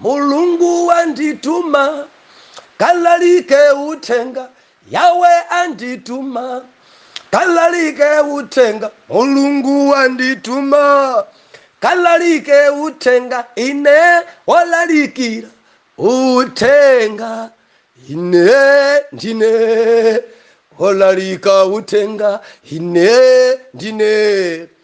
Mulungu wandituma kalalike uthenga Yahwe andituma kalalike uthenga Mulungu wandituma kalalike uthenga ine wolalikira uthenga ine ndine wolalika uthenga ine ndine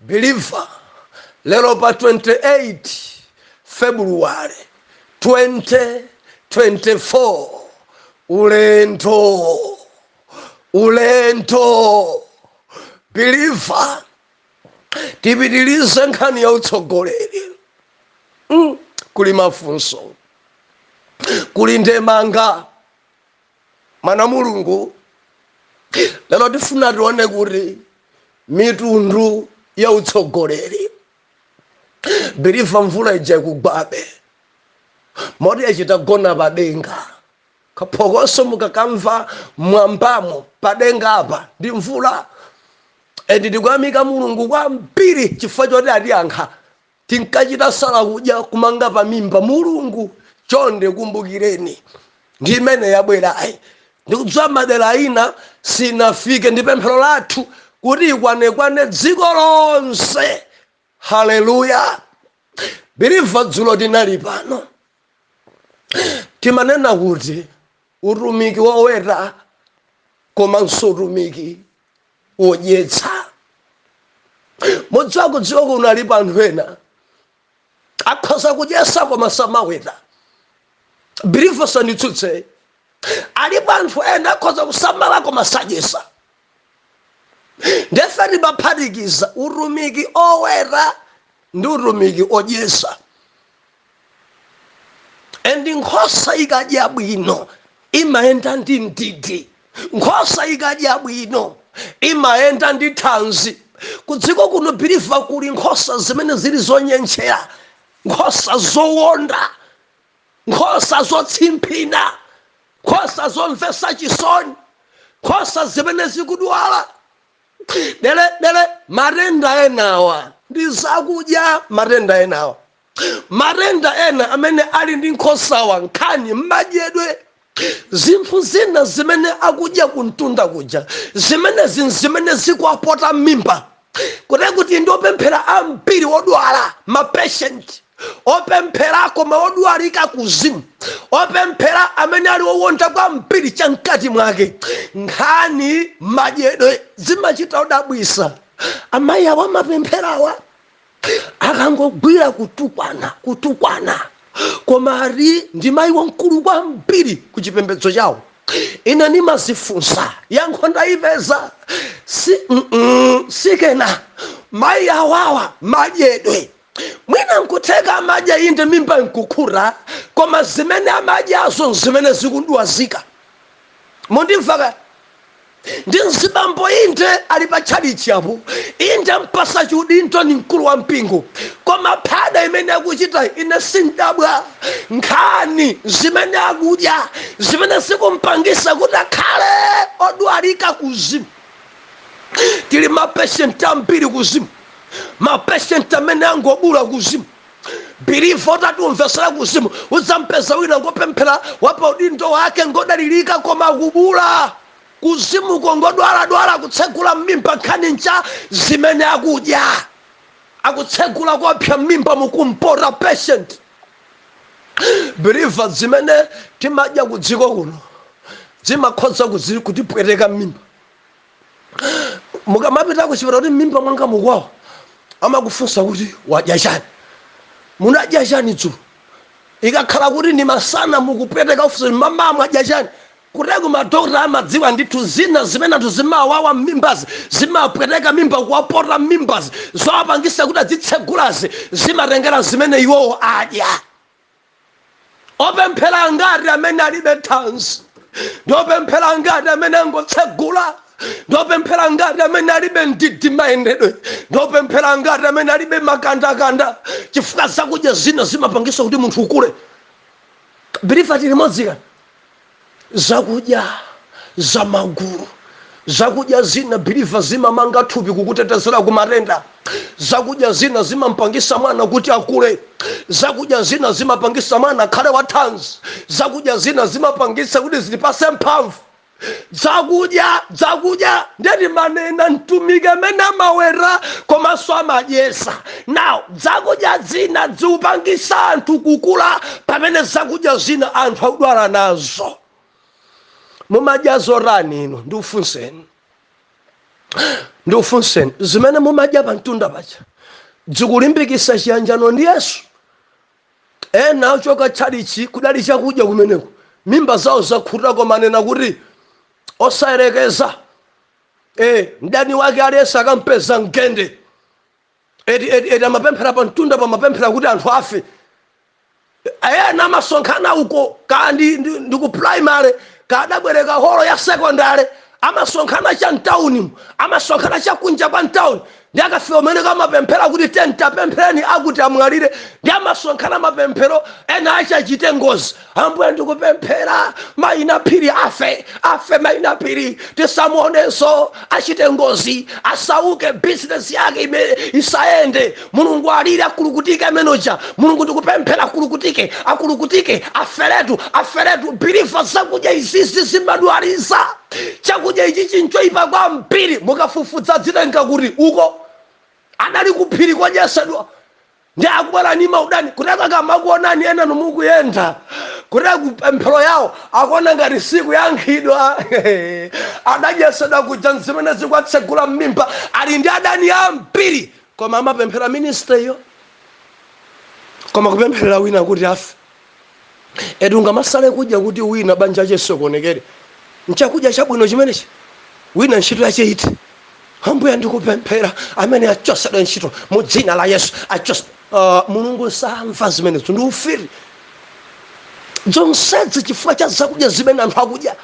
Believer, Lero pa 28 February 2024 ulendo ulendo Believer, tipitirize nkhani ya utsogoleri mm. kuli mafunso kuli ndemanga mwana mulungu lero tifuna tione kuti mitundu ya utsogoleri Believer mvula ija ikugwabe moti yachita gona padenga kaphokoso mukakamva mwambamo padenga apa ndi mvula endi tikuyamika mulungu kwambiri chifukwa choti atiyankha tinkachita sala kudya kumanga pamimba mulungu chonde kumbukireni ndi imene yabwerayi ndikudziwa madera ina sinafike ndi pemphero lathu kuti ikwanekwane dziko lonse haleluya Believer dzulo tinali pano timanena kuti utumiki woweta komanso utumiki wodyetsa mudziwa kudziko kuno alipo anthu ena akhoza kudyesa koma samaweta Believer usanditsutse alipo anthu ena akhoza kusamala koma sadyesa nde ife timaphatikiza utumiki oweta ndi utumiki odyesa and nkhosa ikadya bwino imayenda ndi mdidi nkhosa ikadya bwino imayenda ndi thanzi kudziko kuno Believer kuli nkhosa zimene zili zonyentchera nkhosa zowonda nkhosa zotsimphina nkhosa zomvesa chisoni nkhosa zimene zikudwala dele dele matenda enawa ndi zakudya matenda enawa matenda ena amene ali ndi nkhosawa nkhani m'madyedwe zinthu zina zimene akudya kumtunda kuja zimenezi nzimene zikuwapota m'mimba kuti kuti ndi opemphera ambiri odwala mapeshenti opemphera koma odwalika kuzimu opemphera amene ali owonda kwambiri cha mkati mwake nkhani madyedwe zimachita kudabwisa amayi awa amapempherawa akangogwira kutukwana kutukwana koma ati ndi mayi wamkulu kwambiri ku chipembedzo chawo ine ndimazifunsa yankho ndalipeza si, mm, mm, sikena mayi awawa madyedwe mwina nkutheka amadya inde mimba nkukhuta koma zimene amadyazo nzimene zikumdwazika mukundimva ka ndi mzibambo inde ali pa tchalitchi apo inde ampasa chiudindo ni mkulu wa mpingo koma phada imene akuchita ine sindabwa nkhani zimene akudya zimene zikumpangisa kuti akhale odwalika kuzimu tili mapeshenti ambiri kuzimu mapeshenti amene angobuula kuzimu biliva utati timvesere kuzimu udzampeza wina ngopemphera wapa udindo wake ngodalirika koma kubuula kuzimuko ngodwaladwala akutsegula mmimba nkhani nja zimene akudya akutsegula koopsa mmimba mukumpota patient biliva zimene timadya kudziko kuno zimakhoza kuzi- kutipweteka mmimba mukamapita kuchipatala kuti m'mimba mwanga mukuwawa amakufunsa kuti wadya chani munadya chani dzulo ikakhala kuti ndi masana mukupweteka akufunsa kuti mmawa mwadya chani kuteroko madokota amadziwa ndithu zina zimene anthu zimawawa m'mimbazi zimapweteka mimba kuwapota m'mimbazi zowapangisa kuti adzitsegulazi zimatengera zimene iwowo adya opemphera angati amene alibe thanzi ndi opemphera angati amene angotsegula ndi opemphera angati amene alibe mdidi mayendedwe ndi opemphera angati amene alibe makandakanda chifukwa zakudya zina zimapangisa kuti munthu ukule biliva tili limodzi kani zakudya za magulu zakudya zina biliva zimamanga thupi kukutetezera ku matenda zakudya zina zimampangisa mwana kuti akule zakudya zina zimapangisa mwana akhale wathanzi zakudya zina zimapangisa kuti zitipase mphamvu zakudya zakudya nde timanena mtumiki amene amaweta komanso amadyesa now Zakudya zina dzikupangisa anthu kukula pamene zakudya zina anthu akudwala nazo. Mumadya zotani inu ndikufunseni? Ndikufunseni zimene mumadya pa mtunda paja dzikulimbikisa chiyanjano ndi Yesu? Ena achoka tchalichi kudali chakudya kumeneko mimba zawo zakhuta koma anena kuti osayerekeza eh mdani wake aliyense akampeza mgende. eti eti eti amapemphera pa mtunda pamapemphera kuti anthu afe ena amasonkhana uko ka ndi, ndi, ndi ku primary kadabwereka holo ya secondary amasonkhana cha mtaunimu amasonkhana cha kunja kwa mtauni ndi akafika kumeneko amapemphera kuti tiyeni tapempherani akuti amwalire ndi amasonkhana mapemphero ena akachite ngozi ambuye ndikupemphera maina phiri afe afe maina phiri tisamuonenso achite ngozi asauke bizinesi yake imene isayende mulungu alire akulukutike ameneuja mulungu ndikupemphera akulukutike akulukutike aferetu aferetu biliva zakudya izizi zimadwalisa chakudya ichi chinchoipa kwambiri mukafufudza zitheka kuti uko adali kuphiri kodyesedwa ndi akubwera ni maudani kuteko akamakuonani enanu mukuyenda kuteko pemphero yawo akuona ngati sikuyankhidwa adadyesedwa kuja nzimene zikuwatsegula mmimba ali ndi adani ambiri koma amapemphera ministeriyo koma kupempherera wina kuti afe eti ungamasale kudya kuti wina banja lache lisokonekere nchakudya chabwino chimenechi wina ntchito yache ithe ambuye ndikupemphera amene achosedwe ntchito mu dzina la yesu achos uh, mulungu samva zimenezo ndi ufiri zonsezi chifukwa cha zakudya zimene anthu akudya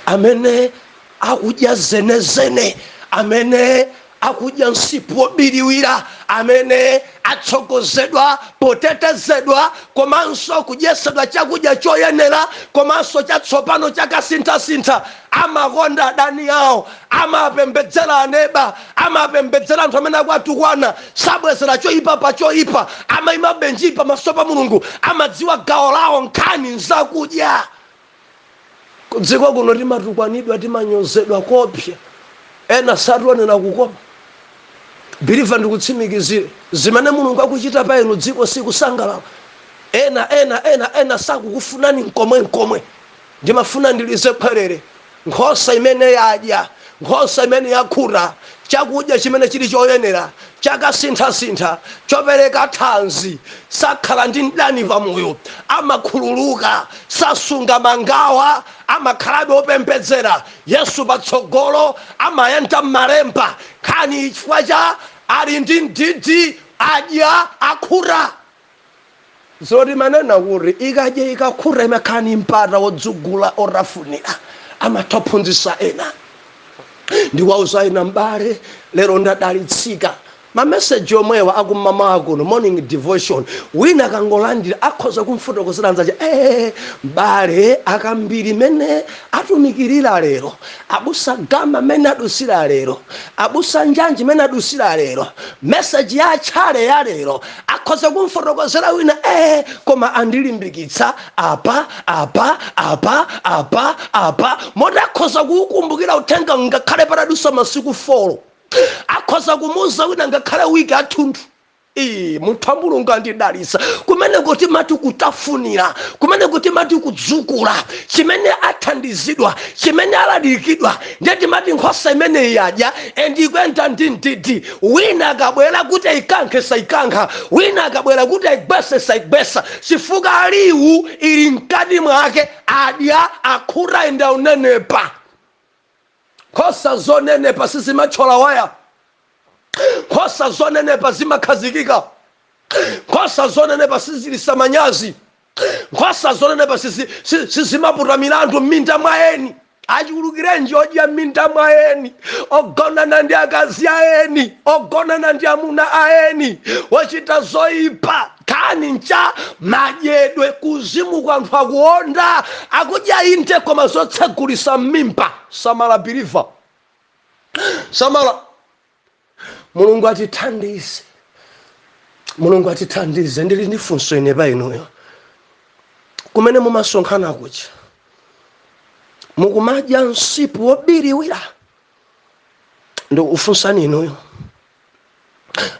amene akudya zenezene amene akudya msipu wobiriwira amene atsogozedwa potetezedwa komanso kudyesedwa chakudya choyenera komanso chatsopano chakasinthasintha amakonda adani awo amapembedzera aneba amapembedzera anthu amene akuwatukwana sabwezera choyipa pa choyipa amayimabe njii pamaso pa mulungu amadziwa gawo lawo nkhani nzakudya kudziko kuno timatukwanidwa timanyozedwa koopsa ena sationera kukoma biliva ndikutsimikizire zimene mulungu akuchita pa inu dziko sikusangalala ena ena ena ena sakukufunani nkomwe nkomwe ndimafuna ndilize khwerere Nkhosa imene yadya, nkhosa imene yakhuta chakudya chimene chili choyenera, chakasinthasintha, chopereka thanzi, sakhala ndi mdani pa moyo, amakhululuka, sasunga mangawa, amakhalabe opembedzera, Yesu patsogolo, amayenda m'malemba, nkhani chifukwa cha ali ndi mdidi, adya, akhuta. zo timanena kuti ikadya ikakhuta imakhala ni mpata wodzukula otafunira amatha kuphunzitsa ena ndi kuwauza ena m'bale lero ndadalitsika mameseji omwewa akumamawa kuno morning devotion wina akangolandira akhoza kumfotokozera anzace ee m'bale a kambiri mene atumikirira lero abusa gama mene adusira lero abusa njanji mene adusira lero meseji ya atchale ya lero akhoza kumfotokozera wina ee koma andilimbikitsa apa apa apa apa apa moti akhoza kuukumbukira uthenga ngakhale patadusa masiku folo akhoza kumuuza wina ngakhale wiki yathunthu Ee, munthu wa mulungu andidalitsa kumeneko timati kutafunira kumeneko timati kudzukula chimene athandizidwa chimene alalikidwa ndiye timati nkhosa imeneyi yadya and ikuyenda ndi mdidi wina akabwera kuti ayikankhe sayikankha wina akabwera kuti ayigwese sayigwesa chifukwa liwu ili mkati mwake adya akhuta and aunenepa nkhosa zonenepa sizimatchola waya nkhosa zonenepa zimakhazikika nkhosa zonenepa sizilisa manyazi Nkhosa zonenepa sizi- si- sizimaputa milandu m'minda mwa eni achulukirenji odya m'minda mwa eni ogonana ndi akazi a eni ogonana ndi amuna a eni ochita zoyipa nkhani nja madyedwe kuuzimu kwa anthu akuonda akudya inde koma zotsegulisa m'mimba samala believer samala mulungu atithandize mulungu atithandize ndili ndi funso ine pa inuyo kumene mumasonkhana kuja mukumadya msipu wobiriwira ndikufunsani inuyo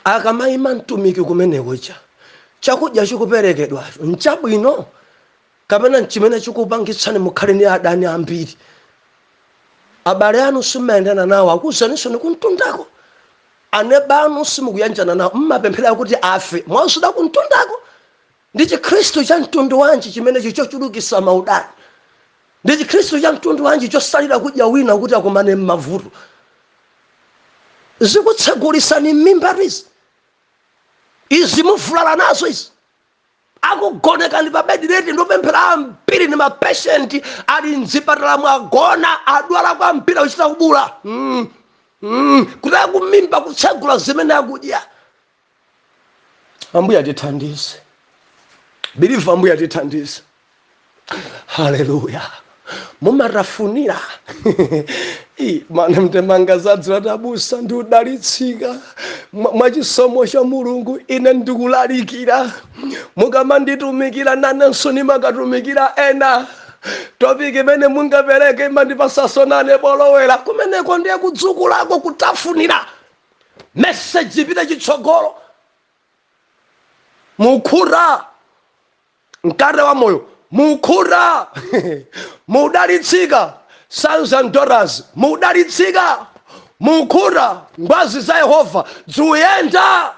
akamayima mtumiki kumene kuja chakudya chikuperekedwacho nchabwino Kapena n'chimene chikupangitsani mukhale ndi adani ambiri? Abale anu simumayendana nawo, akuuzaninso ni kumtundako. Aneba anu simukuyanjana nawo, m'mapemphera kuti afe, mwauzidwa kumtundako. Ndi Chikhristu cha mtundu wanji chimenecho chochulukitsa maudani? Ndi Chikhristu cha mtundu wanji chosalira kudya wina kuti akumane ni mavuto? Zikutsegulitsani m'mimbatu izi? Izi muvulala nazo izi? akugonekani pa bed rest ndopemphera ambiri ndi mapeshenti ali mzipatala mwagona adwala kwambiri akuchita kubuula mm. Mm. kuti akumimba kutsegula zimene akudya ambuya tithandize believer ambuya tithandize haleluya mumatafunira Ih, mana mtemanga zadzi latabusa ndikudalitsika Mwa- mwa chisomo cha mulungu ine ndikulalikira mukamanditumikira nanenso nimakatumikira ena topiki imene mungapereke imandipasaso nane bolowera kumeneko ndiye kudzukulako kutafunira meseji ipite chitsogolo mukhuta mkate wa moyo mukhuta mudalitsika sons and daughters mudalitsika mukhuta ngwazi za yehova zikuyenda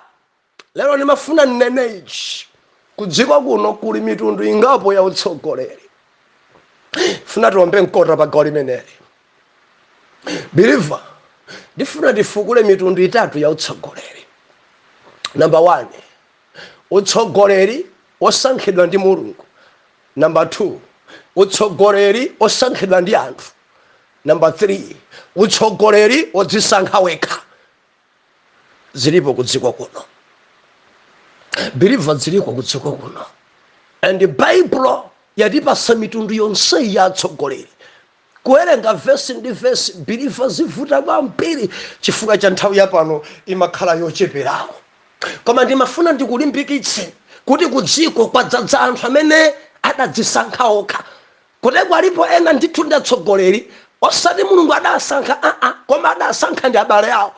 lero ndimafuna ndinene ichi kudziko kuno kuli mitundu ingapo ya utsogoleri funa tiombe mkota pa gawo limeneli believer ndifuna tifukule mitundu itatu ya utsogoleri number one Utsogoleri osankhidwa ndi Mulungu Number 2 Utsogoleri osankhidwa ndi anthu Number 3 Utsogoleri odzisankha wekha Zilipo kudziko kuno Believer zilipo kudziko kuno And Bible yatipasa mitundu yonse ya atsogoleri Kuwerenga vesi ndi vesi believer zivuta kwambiri chifukwa cha nthawi ya pano imakhala yocheperako. Koma ndimafuna ndikulimbikitse kuti kudziko kwadzadza anthu amene adadzisankha okha. Kuteroko alipo ena ndithu ndi atsogoleri osati Mulungu adasankha aa koma adasankha ndi abale awo.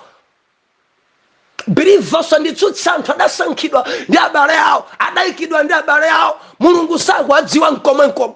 Believer usanditsutse anthu adasankhidwa ndi abale awo, adaikidwa ndi abale awo. Mulungu sakuwadziwa nkomwe nkomwe.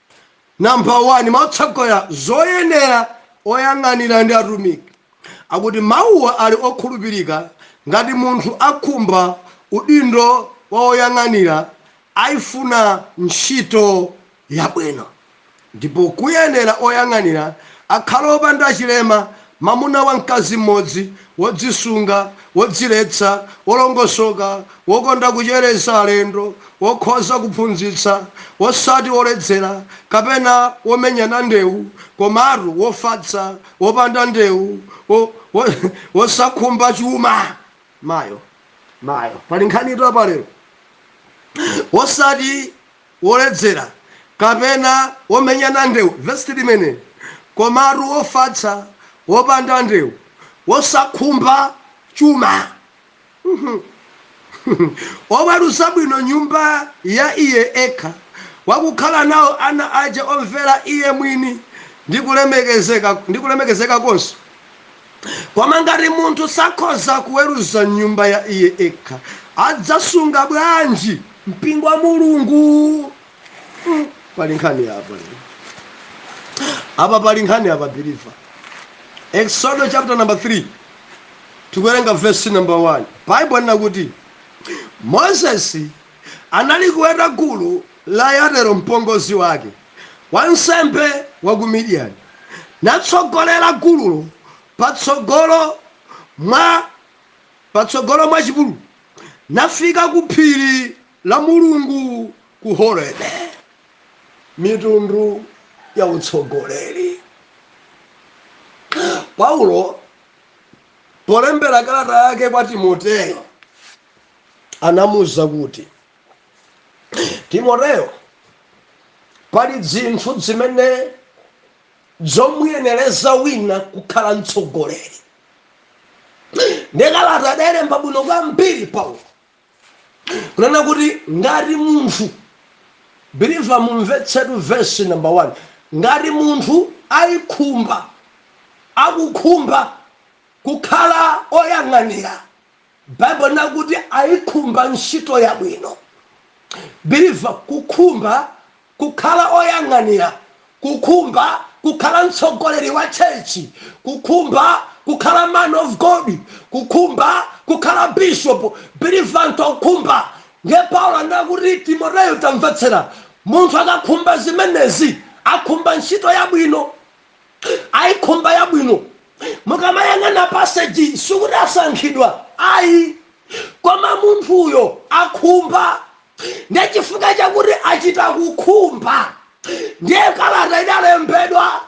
Number 1, mautsogoleri, zoyenera, oyang'anira ndi atumiki akuti mawuwa ali okhulupirika ngati munthu akhumba udindo wa woyang'anira aifuna ntchito yabwino ndipo kuyenera oyang'anira akhale opanda chilema Mamuna wa mkazi mmodzi, wodzisunga, wodziletsa, wolongosoka, wokonda kuchereza alendo, wokhoza kuphunzitsa, wosati woledzera, kapena womenyana ndewu, komatu wofatsa, wopanda ndewu, wo, wo, wosakhumba chuma. Mayo, mayo, pali nkhanitu apa lero! Wosati woledzera, kapena womenyana ndewu, vesi 3 limeneli, komatu wofatsa, wopanda ndewu, wosakhumba chuma, woweruza bwino nyumba ya iye ekha, wakukhala nao ana ace omvera iye mwini, ndi kulemekezeka konse. Koma ngati munthu sakhoza kuweruza nyumba ya iye ekha, adzasunga bwanji mpingo wa Mulungu? Mm, pali nkhani apa. Apa pali nkhani apa believer. Exodo chapter number 3. Tikuwerenga verse number 1. Bible linakuti Moses anali kuweta gulu la Yetero mpongozi wake. wansembe wa ku Midiyani, natsogolera gululo patsogolo mwa chipululu, nafika ku phiri la Mulungu ku Horebe. Mitundu ya utsogoleri. Paulo polembera kalata yake kwa Timoteyo anamuuza kuti. timoteyo pali dzinthu dzimene zomuyenereza wina kukhala mtsogoleri ndikalata adalemba bwino kwambiri paulo kunena kuti ngati munthu believer mumvetsetu verse number 1 ngati munthu aikhumba akukhumba kukhala oyang'anira Bible linakuti aikhumba ntchito yabwino. Believer kukhumba kukhala oyang'anira, kukhumba kukhala mtsogoleri wa church, kukhumba kukhala man of God, kukhumba kukhala bishop. Believer anthu akukhumba. Ndiye Paulo anena kuti Timoteyo tamvetsera. Munthu akakhumba zimenezi akhumba ntchito yabwino. aikhumba yabwino mukamayang'ana passage sikuti asankhidwa ayi koma munthuyo akhumba ndiye chifukwa chakuti achita kukhumba ndiye kalata idalembedwa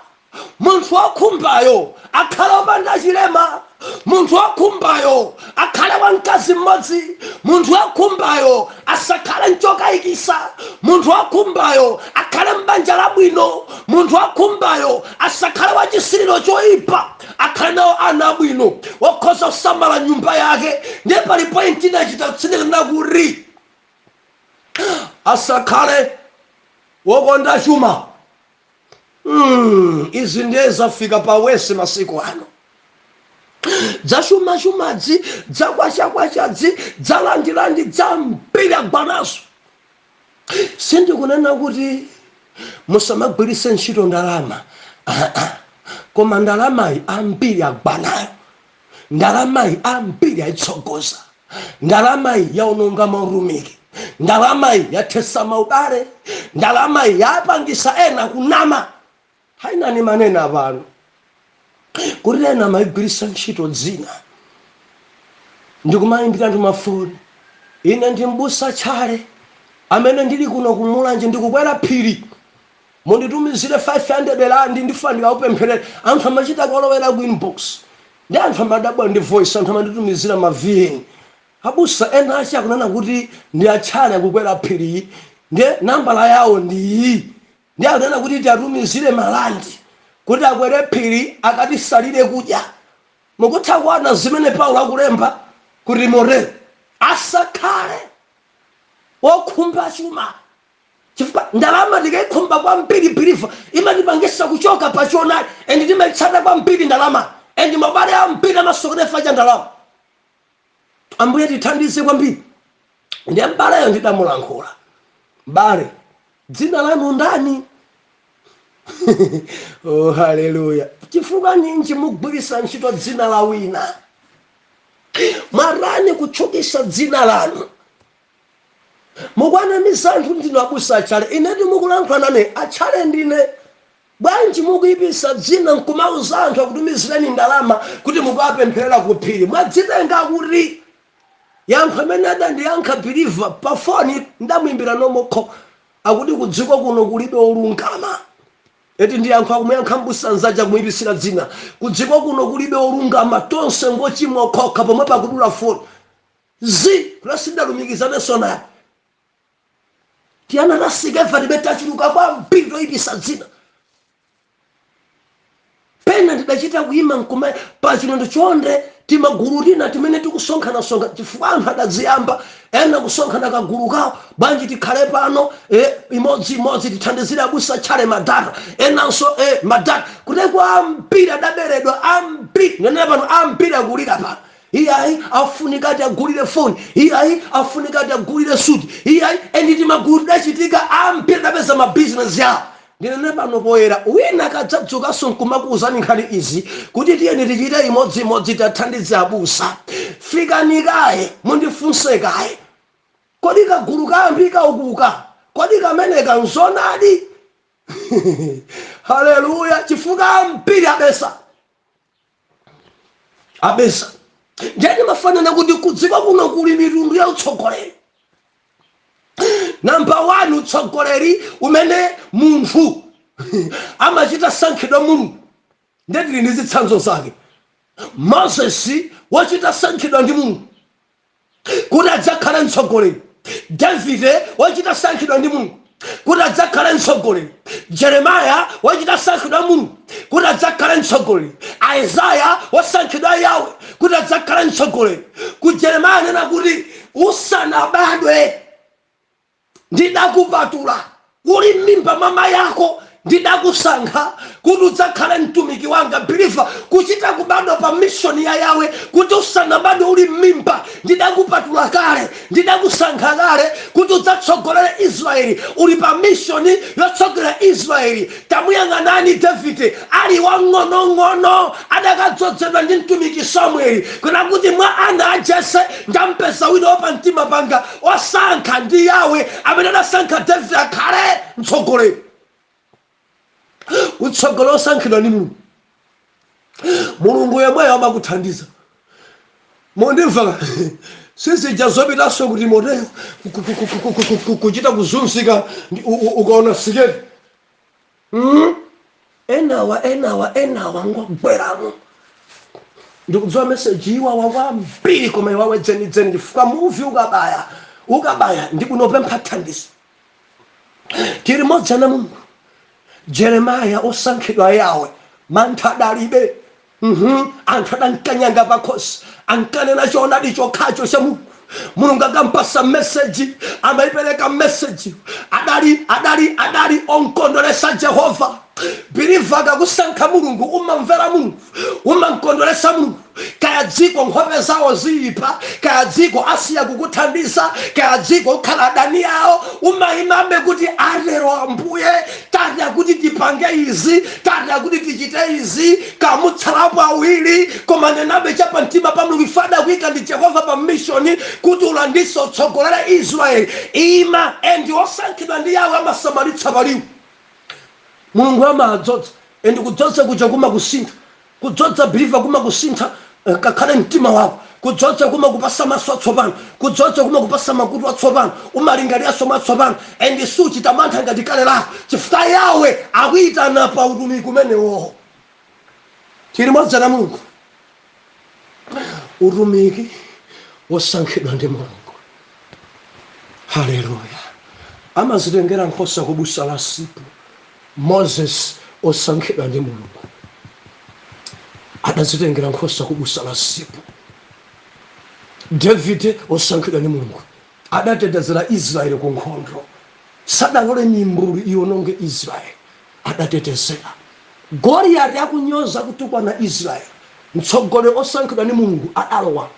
munthu wokhumbayo akhale opanda chilema munthu wokhumbayo akhale wa mkazi mmodzi munthu wokhumbayo asakhale mchokayikisa munthu wokhumbayo akhale m'banja labwino munthu wokhumbayo asakhale wa chisiliro choyipa akhale nawo ana abwino wokhoza kusamala nyumba yake ndiye pali point inachita kutsindika kuti asakhale wokonda chuma Mm, izi ndiye zafika pa wese masiku ano dzachumachumadzi dzakwachakwachadzi dzalandilandi dzambiri agwa nazo sindikunena kuti musamagwiritse ntchito ndalama Ah, ah. koma ndalamayi ambiri agwa nayo ndalamayi ambiri ayitsogoza ndalamayi yaononga mautumiki ndalamayi yathesa maubale ndalamayi yapangisa ena kunama ha inayi ndimanena apapa kuti ena amayigwirisa ntchito dzina ndikumayimbira anthu mafoni ine ndi mbusa tchale amene ndili kuno kumulanje ndikukwera phiri munditumizire 500 landi ndifuna ndikakupempherere anthu amachita kolowera ku inbox nde anthu amadabwa ndi voice anthu amanditumizira ma vn abusa ena ake akunena kuti ndi atchale akukwera phiri nde nambala yawo ndi iyi nde akunena kuti tiwatumizire malandi kuti akwere phiri akatisalire kudya mukutha kuona zimene paulo akulemba kwa timoteo asakhale wokhumba chuma chifukwa ndalama tikaikhumba kwambiri believer imatipangisa kuchoka pa choonadi and timaitsatira kwambiri ndalama and abale ambiri amasokera chifukwa cha ndalama ambuye tithandize kwambiri ndiye mbaleyo ndidamulankhula mbale dzina lanu ndani oh haleluya chifukwa ninji mukugwiritsa ntchito dzina la wina mwalani kutchukisa dzina lanu Mukuwanamiza anthu ndinu abusa atchale inetu mukulankhula nane atchale ndine bwanji mukuipisa dzina nkumauza anthu akutumizireni ndalama kuti mukawapempherera ku phiri mwadzitenga kuti yankho limene adandiyankha believer pa foni ndamuimbira normal call akuti kudziko kuno kulibe olungama eti ndi yankho akumuyankha mbusa nzake akumuipisira dzina kudziko kuno kulibe olungama tonse ngochimwa okhokha pomwepo kudula foni Zitatha sindinalumikizanenso naye. Tiana ta Sikeva believer tachuluka kwambiri toyipisa dzina. Pena ndidachita kuyima nkuima pa chinondo chonde timagulu tina timene tikusonkhasonkha chifukwa anthu adadziyamba ena kusonkha kagulu kawo. Bwanji tikhale pano e, imodzi-imodzi tithandizire abusa Tchale Madata enanso e, Madata. Kuteroko ambiri adaberedwa, ambiri, ndinene pano ambiri akulira pano. iyayi afunika tiwagulire foni iyayi afunika tiwagulire suti iyayi endi timagulu tidachitika ambiri adapeza mabizinesi yawo ndinene pano poyera wina akadzadzukanso nkumakuwuzani nkhani izi kuti tiyeni tichite imodziimodzi tiwathandize abusa fikani kaye mundifunse kaye kodi kagulu kayamba kukoka kodi kameneka, nzonadi haleluya chifukwa ambiri abesa abesa ndiye ndimafuna nena kuti kudziko kuno kuli mitundu ya utsogoleri namba 1 utsogoleri umene munthu amachita sankhidwa mulungu ndiye tili ndi zitsanzo zake moses wachita sankhidwa ndi mulungu kuti adzakhale mtsogoleri davide wachita sankhidwa ndi mulungu kuti adzakhale mtsogoleri jeremaya wachita sankhidwa mulungu kuti adzakhale mtsogoleri aizaya wasankhidwa yawe kuti adzakhale mtsogoleri ku jeremaya anena kuti usanabadwe Ndidakupatula uli m'mimba mwa mai ako, ndidakusankha kuti udzakhale mtumiki wanga, Believer, kuchita kubadwa pa mission ya Yahweh, kuti usanabadwe uli m'mimba, ndidakupatula kale, ndidakusankha kale kuti udzatsogolere Israel, uli pa mission yotsogolera Israel, tamuyang'anani Davide, ali wang'onong'ono, adakadzodzedwa ndi mtumiki Samuel, kunena kuti mwa ana a Jesse, ndampeza wina wapamtima panga, osankha ndi yawe amene adasankha david akhale mtsogoleri utsogoleri osankhidwa ndi mulungu mulungu yemweyo amakuthandiza mondimva si zija zopitanso ku timoteyo kuchita kuzunzika ndi- u- u- ukaona siketi mm? enawa enawa enawa ngogweramo ndikudziwa meseji iwawa kwambiri koma iwawe dzenidzeni chifukwa muvi ukabaya ukabaya ndi bwino pempha thandizo tiri modzi ana mulungu jeremaya osankhidwa yawe mantha adalibe uhmm anthu adamkanyanga pakhosi ankanena choonadi chokhacho cha mulungu mulungu akampasa message amaipereka message yo adali adali adali omkondweresa jehova believer akakusankha mulungu umamvera mulungu umamkondweresa mulungu kaya dziko nkhope zawo ziipa kaya dziko asiya kukuthandiza kaya dziko ukhala adani awo umaimabe kuti atero ambuye tatha kuti tipange izi tatha kuti tichite izi kaya mutsalapo awiri koma nenabe cha pamtima pa mulungu if adakuika ndi jehova pa mishoni kuti ulandise utsogolere israeli ima endi osankhidwa ndi yawe amasamalitsa paliwu mulungu amadzodza endi kudzodza kuja kumakusintha Kudzodza believer kumakusintha ngakhale mtima wako. Kudzodza kumakupasa maso atsopano. Kudzodza kumakupasa makutu atsopano. Umalingaliranso mwatsopano and suchita mantha ngati kale lako chifukwa Yahweh akuitana pa utumiki umenewo. Tili modzi ana Mulungu. Utumiki wosankhidwa ndi Mulungu. Hallelujah. Amazitengera nkhosa ku busa la msipu. Moses osankhidwa ndi Mulungu adazitengera nkhosa ku busa la Zipu. Davide osankhidwa ndi Mulungu adatetezera Israel ku nkhondo. Sadalole mimbulu iononge Israel. Adatetezera. Goliati akunyoza, kutukwana Israel. Mtsogoleri osankhidwa ndi Mulungu adalowa.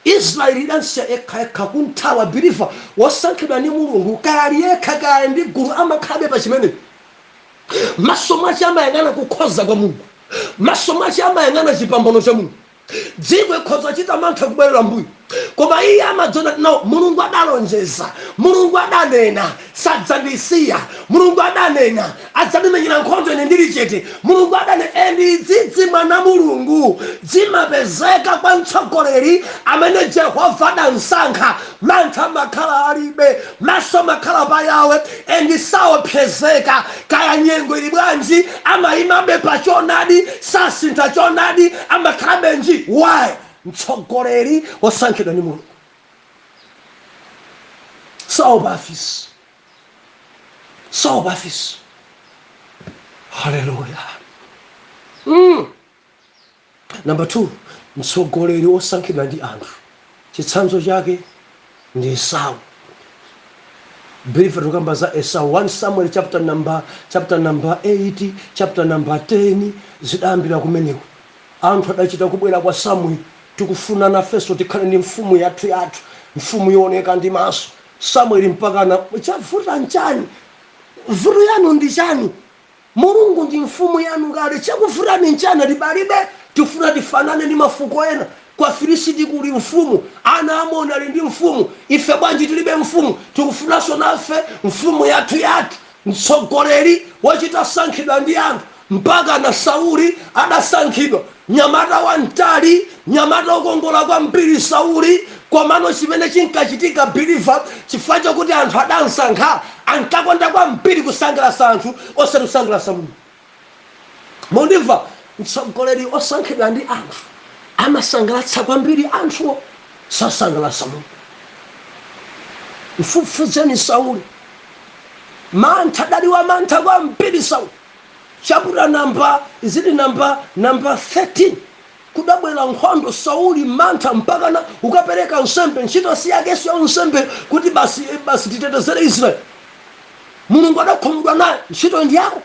Israel idamsiya yekha yekha kumthawa believer wosankhidwa ndi Mulungu kaya ali yekha kaya ali ndi gulu amakhalabe pa chimene maso mwache amayang'ana kukhoza kwa Mulungu maso mwache amayang'ana chipambano cha Mulungu dziko ikhoza kuchita mantha kubwerera mbuyo koma iye amadziona no Mulungu adalonjeza Mulungu adanena Sadzandisiya. Mulungu adanena, adzandimenyera nkhondo ine ndili chete. Mulungu adanena and dzidzi mwana Mulungu dzimapezeka kwa mtsogoleri amene Jehovah adamsankha. Mantha amakhala alibe. Maso amakhala pa Yahwe and saopsezeka. Kaya nyengo ili bwanji amaimabe pa choonadi sasintha choonadi amakhalabe nji. Why? Mtsogoleri wosankhidwa ndi Mulungu. saopa afisi saopa afisi haleluya mm. namba 2 mtsogoleri wosankhidwa ndi anthu chitsanzo chake ndi esau believer tikukamba za esau 1 samuel chapter number chapter number 8 chapter number 10 zidayambira kumeneko Anthu adachita kubwera kwa Samueli, Tikufuna nafenso tikhale ndi mfumu yathuyathu, mfumu yooneka ndi maso. Samueli mpakana, Chavuta nchani? Vuto yanu ndi chani? Mulungu ndi mfumu yanu kale. Chakuvutani nchani? Ati palibe, tikufuna tifanane ndi mafuko ena. Kwa Afilisiti kuli mfumu. Ana a Amoni ali ndi mfumu. Ife bwanji tilibe mfumu? Tikufunanso nafe mfumu yathuyathu. Mtsogoleri wochita sankhidwa ndi anthu mpakana Sauli adasankhidwa, nyamata wamtali, nyamata wokongola kwambiri Sauli, komano chimene chinkachitika believer chifukwa chokuti anthu adamsankha ankakonda kwambiri kusangalatsa anthu osati kusangalatsa Mulungu. Mukundimva, Mtsogoleri osankhidwa ndi anthu amasangalatsa kwambiri anthuwo sasangalatsa Mulungu. Mfufuzeni Sauli. Mantha adali wa mantha kwambiri Sauli. Chaputala namba is it namba namba 13. Kudabwera nkhondo, Sauli, mantha, mpakana ukapereka nsembe? Ntchito si yake, ya unsembe kuti basi titetezere Israel. Mulungu adakhumudwa naye, ntchitoyi ndi yako.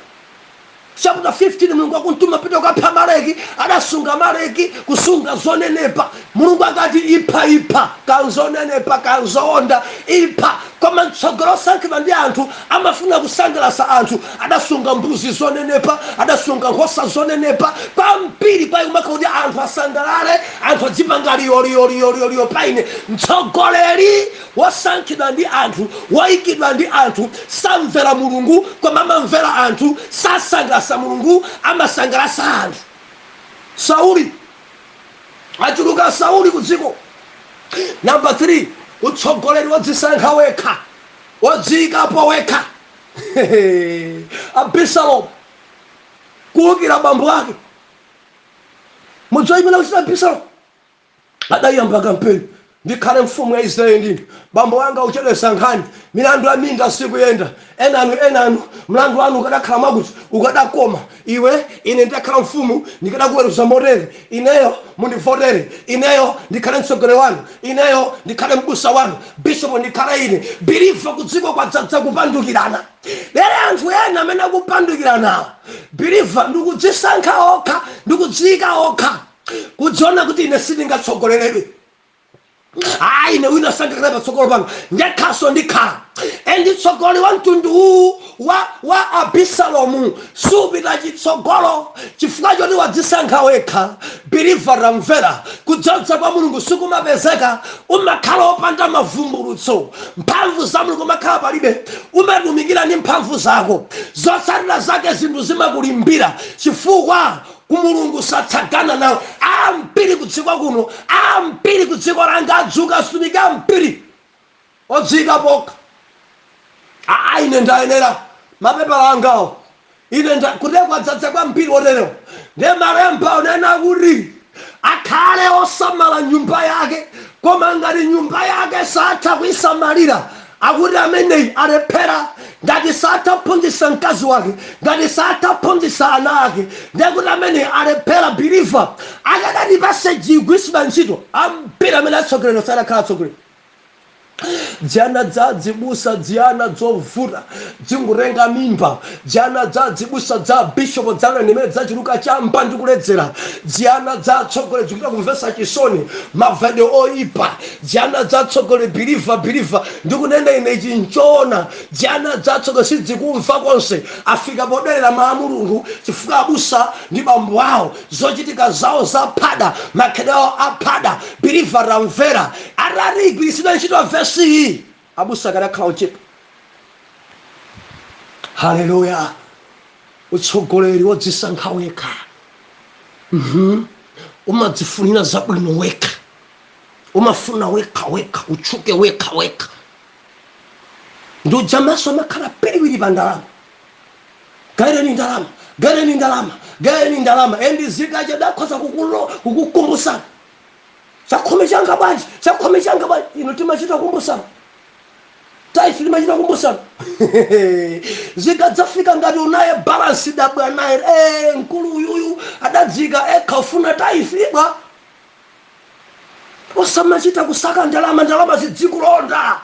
Chapter 15, Mulungu akumtuma pita ukapha Amaleki, adasunga Amaleki, kusunga zonenepa. Mulungu akati ipha, ipha, kaya nzonenepa, kaya nzoonda, ipha. Koma mtsogoleri osankhidwa ndi anthu amafuna kusangalatsa anthu. adasunga mbuzi zonenepa adasunga nkhosa zonenepa kwambiri kwa ikumaka kuti anthu asangalale anthu adzipanga liyoliyoliyoliyoliyo pa ine mtsogoleri wosankhidwa ndi anthu woyikidwa ndi anthu samvera mulungu koma amamvera anthu sasangalasa mulungu amasangalasa anthu sauli achuluka sauli ku dziko namba 3 utsogoleri wodzisankha wekha wodziyikapo wekha abisalomu kuukira bambo ake mudziwa imene akuchita abisalomu adayamba kampeni ndikhale mfumu ya israeli ndine bambo wanga uchedwesa nkhani milandu ya minda sikuyenda enanu enanu mlandu wanu ukadakhala mwakuti ukadakoma Iwe, ine nditakhala mfumu, ndikadakuweruza motere, Ineyo, mundivotere ineyo ndikhale mtsogoleri wanu, ineyo ndikhale m'busa wanu, bishop ndikhale ine. Believer kudziko kwadzadza kupandukirana. Lero anthu ena amene akupandukiranawo, believer ndikudzisankha okha, ndikudziyika okha, kudziona kuti ine sindingatsogoleredwe. ayi ine wina sangakhale patsogolo panga ndekhaso ndikhala endi utsogoleri wa mtundu uwu wa, wa abisalomu supita chitsogolo chifukwa choti wadzisankha wekha biliva tamvera kudzodza kwa mulungu sikumapezeka umakhala opanda mavumbulutso mphamvu za mulungu umakhala palibe umatumikira ndi mphamvu zako zotsatira zake zinthu zimakulimbira chifukwa Mulungu satsagana nawe ambiri kudziko kuno ambiri kudziko langa adzuka atumiki ambiri odziyikapo okha aa ine ndayenera mapepala angawo ine nda kudziko adzadza kwambiri oterewa ndiye malemba unena kuti akhale osamala nyumba yake koma ngati nyumba yake satha kuisamalira Akuti ameneyi alephera, ngati satha kuphunzitsa mkazi wake, ngati satha kuphunzitsa ana ake, ndiye kuti ameneyi alephera, believer, akadati vesi igwiritsidwe ntchito ambiri amene atsogoleri sadakhala atsogoleri. Dziana dza dzibusa, dziana dzovuta, dzingutenga mimba dziana dza adzibusa dza abishopo dziana ndimene dzachuluka chamba ndi kuledzera dziana dza atsogoleri dzikuchita kumvesa chisoni mavalidwe oyipa dziana dza atsogoleri biliva biliva ndikunena ine ichi nchoona dziana dza atsogoleri sidzikumva konse afika poderera mawu a mulungu chifukwa abusa ndi bambo awo zochitika zawo zaphada makhalidwe awo aphada biliva tamvera atati igwiritsidwe ntchito vesi iyi Abusa akadakhala ochepa haleluya utsogoleri wodzisankha wekha uhum. umadzifunira zabwino wekha umafuna wekha wekha utchuke wekha wekha ndi uja maso amakhala piliwiri pa ndalama gaireni ndalama gaireni ndalama gaireni ndalama endi zikachedwa akhoza kukukumbusana chakhumi changa bwanji chakhumi changa bwanji ino timachita kumbusana taifi timachita kumbusana zikadzafika ngati unaye balansi dabwa naye, mkulu uyuyu adadzika yekha ufuna taifi bwa osamachita kusaka ndalama ndalama zidzikulonda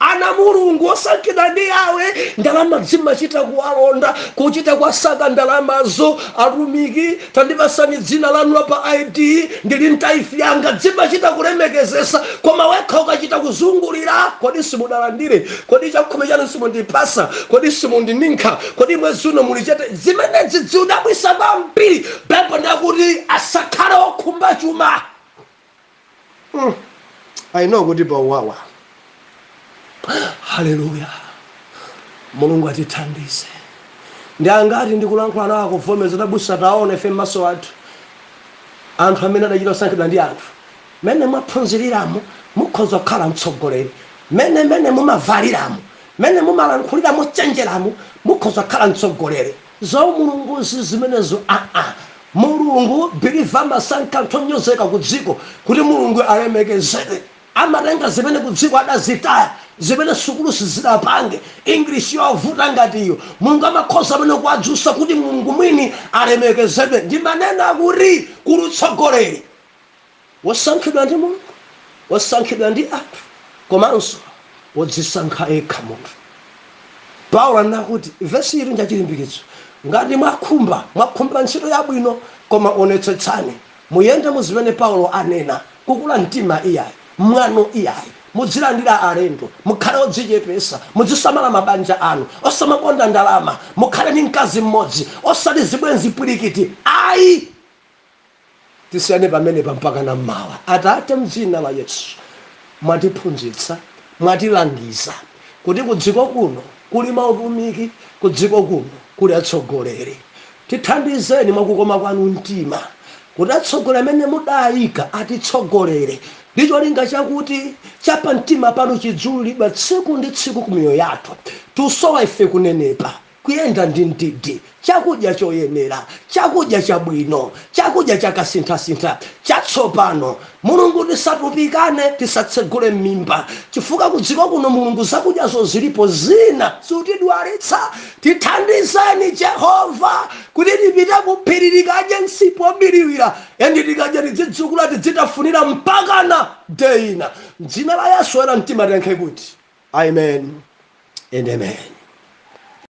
Ana a Mulungu osankhidwa ndi Yawe ndalama zimachita kuwalonda kuchita kuwasaka ndalamazo atumiki tandipasani dzina lanu la pa ID ndili ndi taifi yanga zimachita kulemekezesa koma wekha ukachita kuzungulira kodi simudalandire kodi chakhumi chanu simundipasa kodi simundininkha kodi mwezi uno muli chete zimenezi zikudabwisa kwambiri Baibulo ndakuti asakhale okhumba chuma Mm. I know kuti pauwawa haleluya mulungu atithandize ndi angati ndikulankhula nawo akuvomereza abusa taona ife m'maso athu anthu amene adachita kusankhidwa ndi anthu mmene mwaphunziriramo mukhoza kukhala mtsogoleri mmene mmene mumavaliramo mmene mumalankhulira mochenjeramo mukhoza kukhala mtsogoleri Zaumulungu si zimenezo aa mulungu believer amasankha anthu onyozeka kudziko kuti mulungu alemekezedwe amatenga zimene kudziko adazitaya zimene sukulu sizidapange english yovuta ngati iyo mulungu amakhoza amene kuwadzusa kuti mulungu mwini alemekezedwe ndimanena kuti kuli utsogoleri Wosankhidwa ndi Mulungu, wosankhidwa ndi anthu, komanso wodzisankha yekha munthu. Paulo anena kuti vesi ili njachilimbikitso, Ngati mwakhumba, mwakhumba ntchito yabwino, koma onetsetsani, muyende mu zimene Paulo anena, kukula mtima iyayi, mwano iyayi, mudzilandira alendo, mukhale odzichepesa, mudzisamala mabanja anu, osamakonda ndalama, mukhale ndi mkazi mmodzi, osati zibwenzi pwirikiti ayi! Tisiyane pamenepa mpakana m'mawa. Atate, m'dzina la Yesu, mwatiphunzitsa, mwatilangiza kuti kudziko kuno kuli mautumiki, kudziko kuno kuli atsogoleri. Tithandizeni mwa kukoma kwanu mtima kuti atsogoleri amene mudaika atitsogolere ndi cholinga chakuti cha pamtima panu chidziwululidwa tsiku ndi tsiku ku miyoyo yathu. Tusowa ife kunenepa. Kuyenda ndi mdidi, chakudya choyenera, chakudya chabwino, chakudya chakasinthasintha, chatsopano. Mulungu tisatupikane, tisatsegule mmimba chifukwa kudziko kuno Mulungu zakudyazo zilipo zina zikutidwalitsa tithandizeni Jehova kuti tipite kuphiri tikadye msipu wobiriwira and tikadya tidzidzukula tidzitafunira mpakana day ina mdzina la Yesu oyera mtima tiyankhe kuti Amen and Amen.